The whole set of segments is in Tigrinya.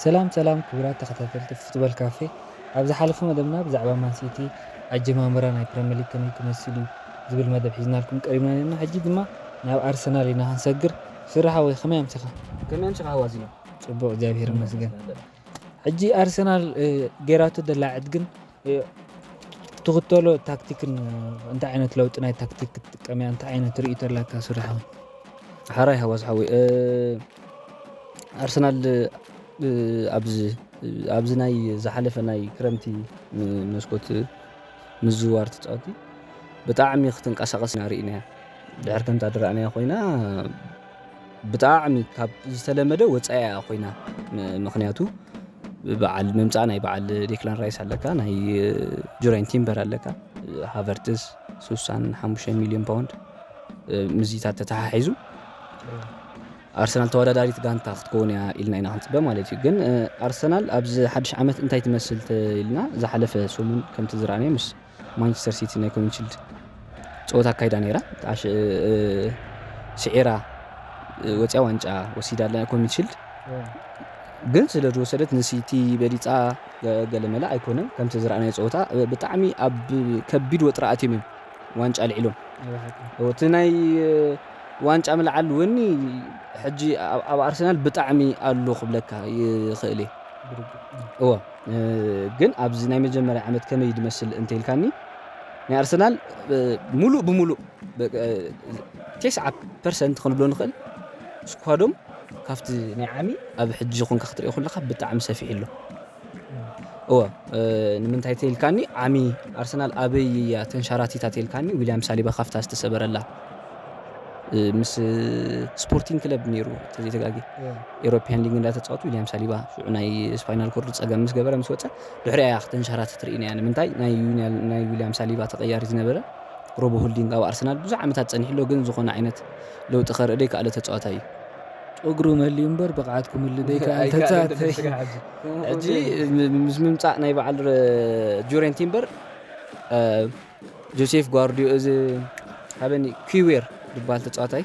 ሰላም ሰላም ክቡራት ተኸታተልቲ ፉትቦል ካፌ ኣብ ዝሓለፈ መደብና ብዛዕባ ማንሲቲ ኣጀማምራ ናይ ፕሪምየር ሊግ ከመይ ክመስል እዩ ዝብል መደብ ሒዝናልኩም ቀሪብና ነርና ሕጂ ድማ ናብ ኣርሰናል ኢና ክንሰግር ፍረ ሓወይ ከመይ ኣምሲኻ። ከመይ ኣምሲኻ ዋዚ ን። ጽቡቅ እግዚኣብሄር ይመስገን ሕጂ ኣርሰናል ጌራቶ ዘላ ዕድግን ትኽተሎ ታክቲክን እንታይ ዓይነት ለውጢ ናይ ታክቲክ ክትጥቀም እያ እንታይ ዓይነት ርእይቶ ኣላካ ሱሪ ሓወይ ሓራይ ሃዋስ ሓወይ ኣርሰናል ኣብዚ ኣብዚ ናይ ዝሓለፈ ናይ ክረምቲ መስኮት ምዝዋር ተፃወቲ ብጣዕሚ ክትንቀሳቐስ ኢና ርኢናያ ድሕር ከምታ ድረኣናያ ኮይና ብጣዕሚ ካብ ዝተለመደ ወፃኢ እያ ኮይና ምክንያቱ በዓል ምምፃእ ናይ በዓል ዴክላን ራይስ ኣለካ ናይ ጁራይን ቲምበር ኣለካ ሃቨርትስ ስሳን ሓሙሽተ ሚሊዮን ፓውንድ ምዚታት ተተሓሒዙ ኣርሰናል ተወዳዳሪት ጋንታ ክትከውን እያ ኢልና ኢና ክንፅበ ማለት እዩ ግን ኣርሰናል ኣብዚ ሓድሽ ዓመት እንታይ ትመስል ኢልና ዝሓለፈ ሰሙን ከምቲ ዝረኣናዮ ምስ ማንቸስተር ሲቲ ናይ ኮሚዩኒቲ ሽልድ ፀወታ ኣካይዳ ነይራ ስዒራ ወፅያ ዋንጫ ወሲዳ ኣላ ኮሚዩኒቲ ሽልድ ግን ስለ ዝወሰደት ንሲቲ በሊፃ ገለመለ ኣይኮነን ከምቲ ዝረኣናዮ ፀወታ ብጣዕሚ ኣብ ከቢድ ወጥሪ ኣትዮም እዮም ዋንጫ ኣልዒሎም እቲ ናይ ዋንጫ ምልዓል እውን ሕጂ ኣብ ኣርሰናል ብጣዕሚ ኣሎ ክብለካ ይኽእል እየ እዎ ግን ኣብዚ ናይ መጀመርያ ዓመት ከመይ ድመስል እንተልካኒ ናይ ኣርሰናል ሙሉእ ብሙሉእ ቴስዓ ፐርሰንት ክንብሎ ንኽእል ስኳዶም ካብቲ ናይ ዓሚ ኣብ ሕጂ ኮንካ ክትሪኦ ከለካ ብጣዕሚ ሰፊሕ ኣሎ እወ ንምንታይ ተልካኒ ዓሚ ኣርሰናል ኣበይ እያ ተንሸራቲታ ተልካኒ ዊልያም ሳሊባ ካብታ ዝተሰበረላ ምስ ስፖርቲንግ ክለብ ነይሩ ተዘይተጋጊ ኤሮፕያን ሊግ እንዳተፃወቱ ዊልያም ሳሊባ ሽዑ ናይ ስፓይናል ኮርድ ፀገም ምስ ገበረ ምስ ወፀ ድሕሪ ኣያ ክተንሸራት ትርኢና እያ ንምንታይ ናይ ዊልያም ሳሊባ ተቀያሪ ዝነበረ ሮቦ ሆልዲንግ ኣብ ኣርሰናል ብዙሕ ዓመታት ፀኒሑ ኣሎ ግን ዝኾነ ዓይነት ለውጢ ከርኢ ደይከኣለ ተፃዋታይ እዩ ጨጉሩ መልዩ እምበር ብቕዓት ክምሉ ደይከኣል ተፃዋታይ ሕጂ ምስ ምምፃእ ናይ በዓል ጁሬን ቲምበር ጆሴፍ ጓርድዮ እዚ ሃበኒ ኪዌር ድበሃል ተጻዋታይ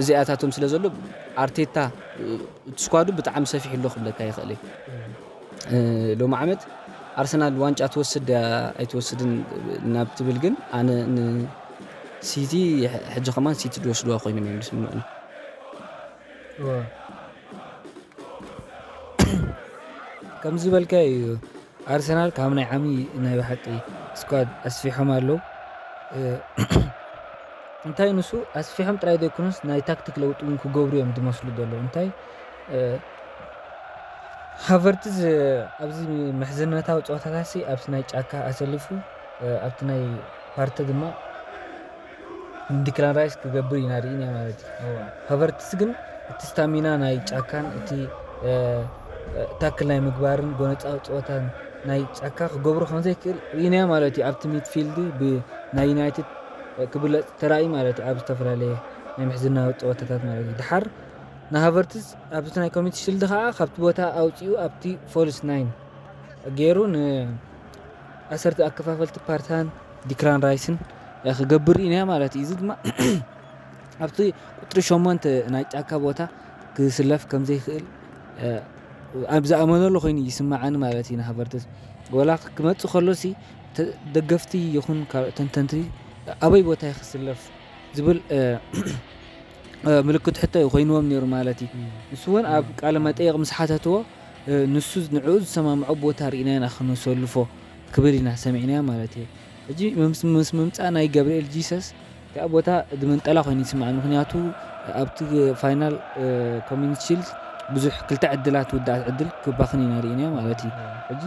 እዚ ኣታቶም ስለ ዘሎ ኣርቴታ እቲ ስኳዱ ብጣዕሚ ሰፊሕ ኣሎ ክብለካ ይኽእል እየ ሎሚ ዓመት ኣርሰናል ዋንጫ ትወስድ ድያ ኣይትወስድን ናብ ትብል ግን ኣነ ንሲቲ ሕጂ ከማን ሲቲ ድወስድዋ ኮይኖም እዮም ዝስምዑኒ ከምዚ ዝበልካዮ እዩ ኣርሰናል ካብ ናይ ዓሚ ናይ ብሓቂ ስኳድ ኣስፊሖም ኣለዉ እንታይ ንሱ ኣስፊሖም ጥራይ ዘይኮኑስ ናይ ታክቲክ ለውጢ እውን ክገብሩ እዮም ዝመስሉ ዘለዉ እንታይ ሃቨርትዝ ኣብዚ ምሕዝነታዊ ፀወታታሲ ኣብቲ ናይ ጫካ ኣሰሊፉ ኣብቲ ናይ ፓርቲ ድማ ንዲክላን ራይስ ክገብር ኢና ርኢና ማለት እዩ። እወ ሃቨርትዝ ግን እቲ ስታሚና ናይ ጫካን እቲ ታክል ናይ ምግባርን ጎነፃዊ ፀወታን ናይ ጫካ ክገብሮ ከምዘይክእል ርኢና ማለት እዩ። ኣብቲ ሚድፊልድ ብናይ ዩናይትድ ክብለፅ ተራእዩ ማለት እዩ ኣብ ዝተፈላለየ ናይ ምሕዝናዊ ፀወታታት ማለት እዩ። ድሓር ንሃቨርትዝ ኣብቲ ናይ ኮሚኒቲ ሽልድ ከዓ ካብቲ ቦታ ኣውፂኡ ኣብቲ ፎልስ ናይን ገይሩ ን ኣሰርቲ ኣከፋፈልቲ ፓርታን ዲክላን ራይስን ክገብር ኢና ማለት እዩ። እዚ ድማ ኣብቲ ቁፅሪ ሸሞንተ ናይ ጫካ ቦታ ክስለፍ ከምዘይክእል ኣብ ዝኣመነሉ ኮይኑ ይስማዓኒ ማለት እዩ ንሃቨርትዝ ወላ ክመፅእ ከሎሲ ደገፍቲ ይኹን ካልኦት ተንተንቲ ኣበይ ቦታ እዩ ክስለፍ ዝብል ምልክት ሕቶ እዩ ኮይንዎም ነይሩ ማለት እዩ ንሱ እውን ኣብ ቃለ መጠየቅ ምስ ሓተትዎ ንሱ ንዕኡ ዝሰማምዖ ቦታ ርኢና ኢና ክነሰልፎ ክብል ኢና ሰሚዕናዮ ማለት እየ ሕጂ ምስ ምምጻእ ናይ ገብርኤል ጂሰስ እቲኣ ቦታ ድምንጠላ ኮይኑ ይስምዓኒ ምክንያቱ ኣብቲ ፋይናል ኮሚኒቲ ሺልድ ብዙሕ ክልተ ዕድላት ውዳእት ዕድል ክባኽን ኢና ርኢናዮ ማለት እዩ ሕጂ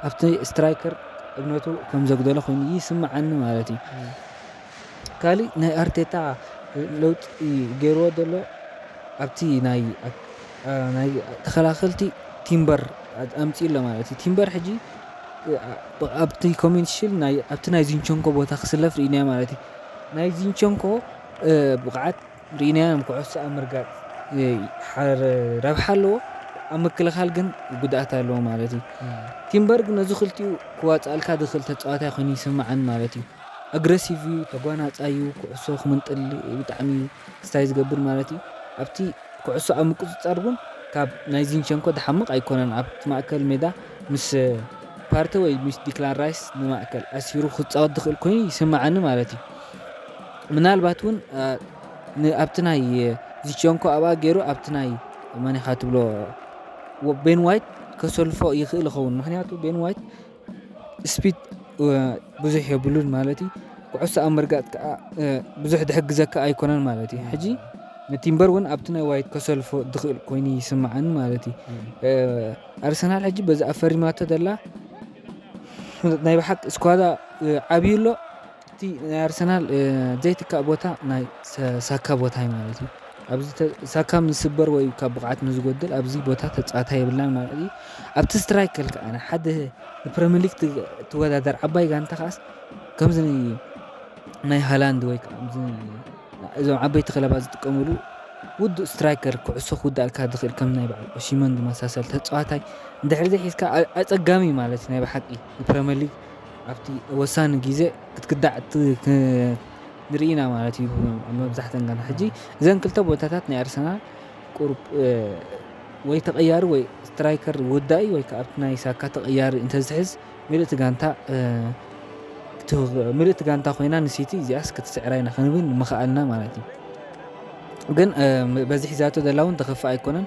ኣብቲ ስትራይከር እምነቱ ከም ዘጉደለ ኮይኑ ይስምዓኒ ማለት እዩ ካሊእ ናይ ኣርቴታ ለውጢ ገይርዎ ዘሎ ኣብቲ ናይ ተኸላኸልቲ ቲምበር ኣምፂኡ ኣሎ ማለት እዩ። ቲምበር ሕጂ ኣብቲ ኮሜንት ሽል ኣብቲ ናይ ዚንቸንኮ ቦታ ክስለፍ ርኢናዮ ማለት እዩ። ናይ ዚንቸንኮ ብቕዓት ርኢናዮ ኩዕሶ ኣብ ምርጋጥ ረብሓ ኣለዎ ኣብ ምክልኻል ግን ጉድኣት ኣለዎ ማለት እዩ። ቲምበር ግን ነዚ ክልቲኡ ክዋፅኣልካ ዝኽእል ተፃዋታይ ኮይኑ ይስመዓኒ ማለት እዩ። ኣግረሲቭ እዩ ተጓናጻይ እዩ ኩዕሶ ክምንጥል ብጣዕሚ ስታይ ዝገብር ማለት እዩ ኣብቲ ኩዕሶ ኣብ ምቁፅፃር እውን ካብ ናይ ዚንቸንኮ ድሓምቕ ኣይኮነን ኣብቲ ማእከል ሜዳ ምስ ፓርተ ወይ ምስ ዲክላን ራይስ ንማእከል ኣሲሩ ክፃወት ዝኽእል ኮይኑ ይስምዓኒ ማለት እዩ ምናልባት እውን ኣብቲ ናይ ዚቸንኮ ኣብኣ ገይሩ ኣብቲ ናይ መን ኢኻ ትብሎ ቤን ዋይት ከሰልፎ ይኽእል ይኸውን ምክንያቱ ቤን ዋይት ስፒድ ብዙሕ የብሉን ማለት እዩ ኩዕሶ ኣብ ምርጋጥ ከዓ ብዙሕ ዝሕግዘካ ኣይኮነን ማለት እዩ ሕጂ ንቲምበር እውን ኣብቲ ናይ ዋይት ከሰልፎ ዝኽእል ኮይኑ ይስምዓኒ ማለት እዩ ኣርሰናል ሕጂ በዚ ኣፈሪማቶ ዘላ ናይ ብሓቂ ስኳዳ ዓብዩ ኣሎ እቲ ናይ ኣርሰናል ዘይትካእ ቦታ ናይ ሳካ ቦታዩ ማለት እዩ ኣብዚ ሳካ ምስ ዝስበር ወይ ካብ ብቕዓት ምስ ዝጎድል ኣብዚ ቦታ ተጻዋታይ የብልናን ማለት እዩ። ኣብቲ ስትራይክ ክል ከዓ ሓደ ንፕሪምየር ሊግ ትወዳደር ዓባይ ጋንታ ከዓስ ከምዚ ናይ ሃላንድ ወይ ከዓ እዞም ዓበይቲ ክለባት ዝጥቀምሉ ውዱእ ስትራይከር ኩዕሶ ክውዳእልካ ዝኽእል ከም ናይ በዓል ኦሽመን ዝመሳሰል ተጻዋታይ እንድሕሪ ዘይሒዝካ ኣጸጋሚ ማለት እዩ ናይ ብሓቂ። ፕረምየር ሊግ ኣብቲ ወሳኒ ግዜ ክትክዳዕ ንርኢ ኢና ማለት እዩ መብዛሕተን ጋንታ ሕጂ እዘን ክልተ ቦታታት ናይ ኣርሰናል ቁሩብ ወይ ተቐያሪ ወይ ስትራይከር ወዳኢ ወይ ከዓ ኣብቲ ናይ ሳካ ተቐያሪ እንተዝሕዝ ምልእቲ ጋንታ ምልእቲ ጋንታ ኮይና ንሲቲ እዚኣስ ክትስዕራ ኢና ክንብል ምኸኣልና ማለት እዩ ግን በዚ ሒዛቶ ዘላ እውን ተኸፋእ ኣይኮነን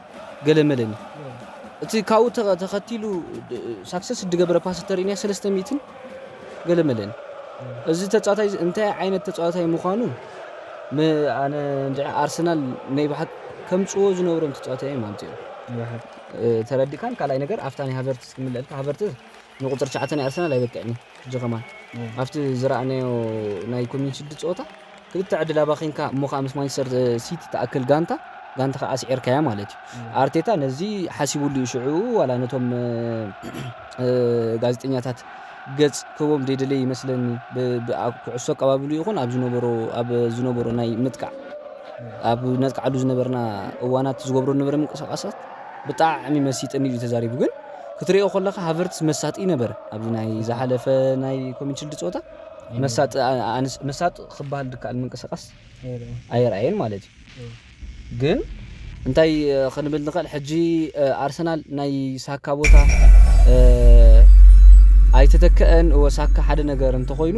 ገለ መለኒ እቲ ካብኡ ተኸቲሉ ሳክሰስ ድገበረ ፓስ ተርእኒያ ሰለስተ ሚእትን ገለ መለኒ እዚ ተፃዋታይ እንታይ ዓይነት ተፃዋታይ ምዃኑ ኣነ እንድዒ ኣርሰናል ናይ ብሓቂ ከምፅዎ ዝነብሮም ተፃዋታይ እዮም ኣምፅኦም ተረዲካን ካልኣይ ነገር ኣብታ ናይ ሃቨርትስ ክምልአልካ ሃቨርትስ ንቁፅሪ ትሽዓተ ናይ ኣርሰናል ኣይበቅዕን እዩ ሕጂ ከማን ኣብቲ ዝረኣናዮ ናይ ኮምዩን ሽልድ ጸወታ ክልተ ዕድል ኣባኺንካ እሞ ከኣ ምስ ማንቸስተር ሲቲ ትኣክል ጋንታ ጋንታኻ ኣስዒርካያ ማለት እዩ ኣርቴታ ነዚ ሓሲቡሉ እዩ ሽዑ ዋላ ነቶም ጋዜጠኛታት ገጽ ክህቦም ዘይደለየ ይመስለኒ ኩዕሶ ኣቀባብሉ ይኹን ኣብ ዝነበሮ ኣብ ዝነበሮ ናይ ምጥቃዕ ኣብ ነጥቃዓሉ ዝነበርና እዋናት ዝገብሮ ዝነበረ ምንቅስቃሳት ብጣዕሚ መሲጥኒ እዩ ተዛሪቡ ግን ክትሪኦ ከለኻ ሃቨርትስ መሳጢ ነበረ ኣብዚ ናይ ዝሓለፈ ናይ ኮሚንሽልድ ፀወታ መሳጢ ኣንስ መሳጢ ክበሃል ድከኣል ምንቅስቃስ ኣይርኣየን ማለት እዩ ግን እንታይ ክንብል ንኽእል ሕጂ ኣርሰናል ናይ ሳካ ቦታ ኣይተተከአን ሳካ ሓደ ነገር እንተኾይኑ